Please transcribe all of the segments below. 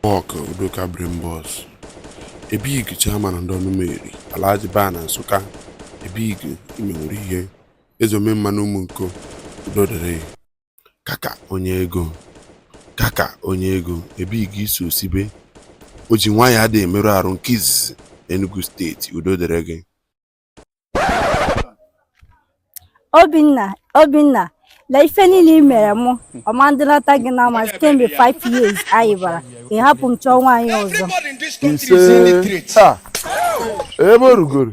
Nwoke Udoka Brimbos, a big Chairman ndị Ọnụmeri, Alhaji Baa na Nsụka, a big imewuru ihe, Eze Omemma na Ụmụnko, udo dịrị. Kaka onye ego, Kaka onye ego, a big isi osibe, o ji nwaanyị adịghị emerụ arụ nke izizi n'Enugu steeti, udo dịrị gị. Obinna Obinna na ife niile ị mere mụ ọma ndịnata gị na ama kemgbe 5 years anyị bara ị hapụ m chọọ nwaanyị ọzọ ise taa ebe o rugoro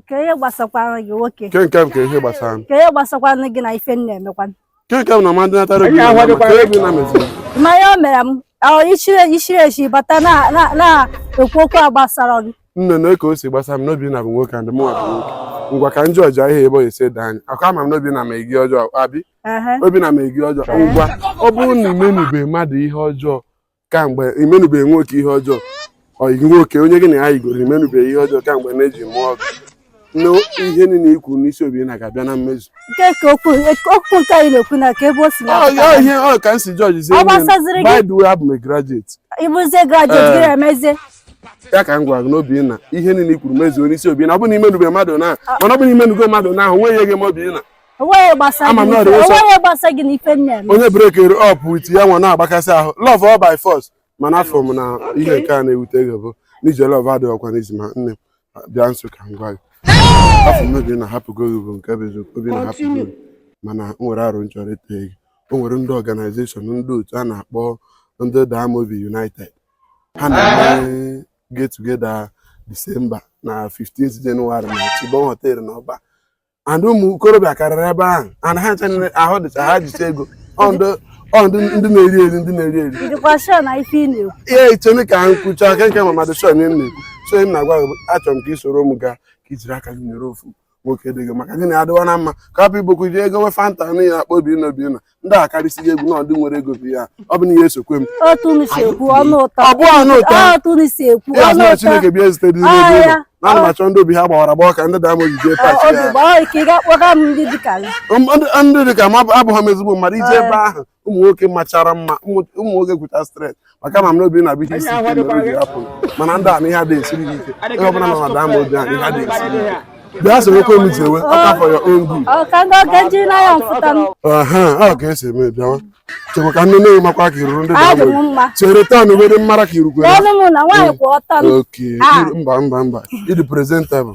kee ihe gbasakwanụ gị nwoke nke nke m kee ihe gbasara m kee ihe gbasakwanụ gị na ife m na-emekwanụ Ke nke bụ na mmadụ natara obi Anyị na ahụghịkwa mmadụ, Obinna mezi. mmanya o mere m ahụ ichiri ichiri echi bata na- na- na-ekwu okwu a gbasara gị Nne na ka o si gbasa m na Obinna bụ nwoke and mụ abụ nwoke. Ngwa ka m jọjịa ihe ebe ọ esi ede anyị. Ọkwa ama m na Obinna mere gị ọjọọ abi. Ehe. Obinna mere gị ọjọọ. Ngwa ọ bụrụ na imenube mmadụ ihe ọjọọ kamgbe imenubeghị nwoke ihe ọjọọ ọyị gị nwoke onye gị na ya yigoro imenubeghị ihe ọjọọ kamgbe na-eji mụọ gị na ihe niile ikwu n'isi Obinna ga-abịa na mmezu nke ka okwu okwu nke anyị na-ekwu na ka ebe o si Ọ- ọ na-apụta ihe ọ ka m si jọji zie Ọ gbasaziri gị? by the way abụ m a graduate ịbụzie graduate gị Eh. emezie ya ka m gwara gị n'obi na ihe niile i kwuru mezuo n'isi Obinna ọ bụ na imenubeghị mmadụ na mana ọ bụ na imenugo mmadụ na o nweghị ihe ga-eme Obinna onweghị gbasa Ama m na ọ dị nsọ. onweghị gbasa gị na ife m na-eme onye breakiri up with ya nwa na-agbakasị ahụ love ọ by force mana afụ m na ihe nke a na-ewute gị bụ n'ije love adịghị ọkwa n'izu ma nne m bịa nso ka m gwa gị afụ m Obinna ahapụgo gị bụ nke bụ eziokwu Obinna ahapụgo gị mana m nwere aro m chọrọ ịtụ gị o nwere ndị organization ndị otu a na-akpọ ndị Damobi United ha na-eme get together Disemba na 15 Jenụwarị na Chibon họteelụ na ọba and ụmụ okorobịa karịrị ebe ahụ and ha ncha niile ahụ dịcha ha jicha ego ọ ndị ọ ndị ndị na-eri eri ndị na-eri eri Ị dịkwa sure na ife ị na-ekwu. ihe ichene ka m kwucha nke nke m ama adị sure ihe m na-ekwu so m na-agwa gị bụ, achọrọ m ka ị soro m gaa ka ijiri aka gị nyere ofu nwoke dị gị maka gị na adịwa na mma ka hapụ ibokwu ji ego we fanta na ị ya-akpọ Obinna Obinna ndị a karịsịghị egwu na ndị nwere ego bụ ya ọ bụ na ihe esokwe m otu unu si ekwu ọnụ ụtọ Ọ bụ ọnụ ụtọ. Ọ otu unu si ekwu ya ọnụ sị na ụtọ chineke bịa ezite di n'ebe Ọ, ụlọ ya. na ana m achọ ndị obi ha gbawara agbawa ka ndị Damobi jee Ọ, party obi ya gbaa ike ị ga-akpọga m ndị dịka gị M- ndị ndị dị ka m abụ- abụghị m ezigbo mmadụ ije ebe ahụ ụmụ nwoke machara mma ụmụ ụmụ nwoke kwụcha straight maka ma m na Obinna bụ ihe isi ike mere o ji hapụ mana ndị a na ihe adịghị esiri gị ike onye ọbụla nọ na Damobi ahụ ihe adịghị esiri ike bịa sorokwe m jewe ọkwa for your own good aha ọ ka esi eme bịawa chekwa ka nne nne gị makwa ka iruru ndị Damobi chere taa na uwe dị mmara ka irukwere oke mba mba mba ịdị presentable